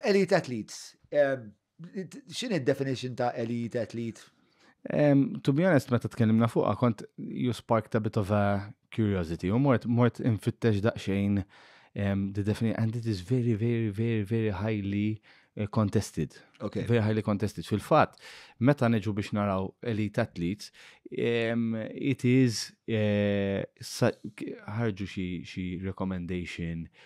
Elite athletes. X'inhi d-definition ta' elite athlete? To be honest, meta tkellimna fuqha kont you sparked a bit of a curiosity u mort mort infittex daqsxejn the definition and it is very very very very highly eh, contested. Okay. Very highly contested. Fil-fatt, meta niġu biex naraw elite athletes, um, it is eh, ħarġu xi recommendation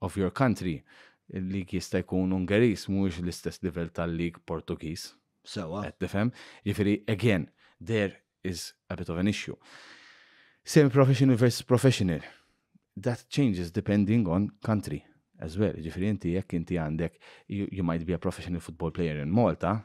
of your country, il-league jista' jkun Ungeriż mhuwiex l-istess livell tal-league Portugiż. Sewa. Qed tifhem? Jiġifieri again, there is a bit of an issue. Semi-professional versus professional, that changes depending on country as well. Jiġifieri inti jekk inti għandek you might be a professional football player in Malta,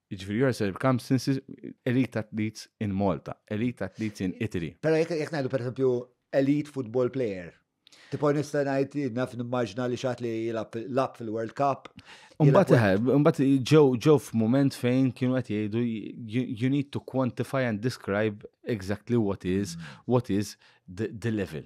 Ġifiri, you are selling camps since elite athletes in Malta, elite athletes in Italy. Pero jek jek najdu per esempio elite football player. Tipo nista najt naf nimmaġna li xat li jilab lab fil-World Cup. Umbat iħeb, umbat ġew ġew f'moment fejn kienu qed jgħidu you need to quantify and describe exactly what is mm. what is the, the level.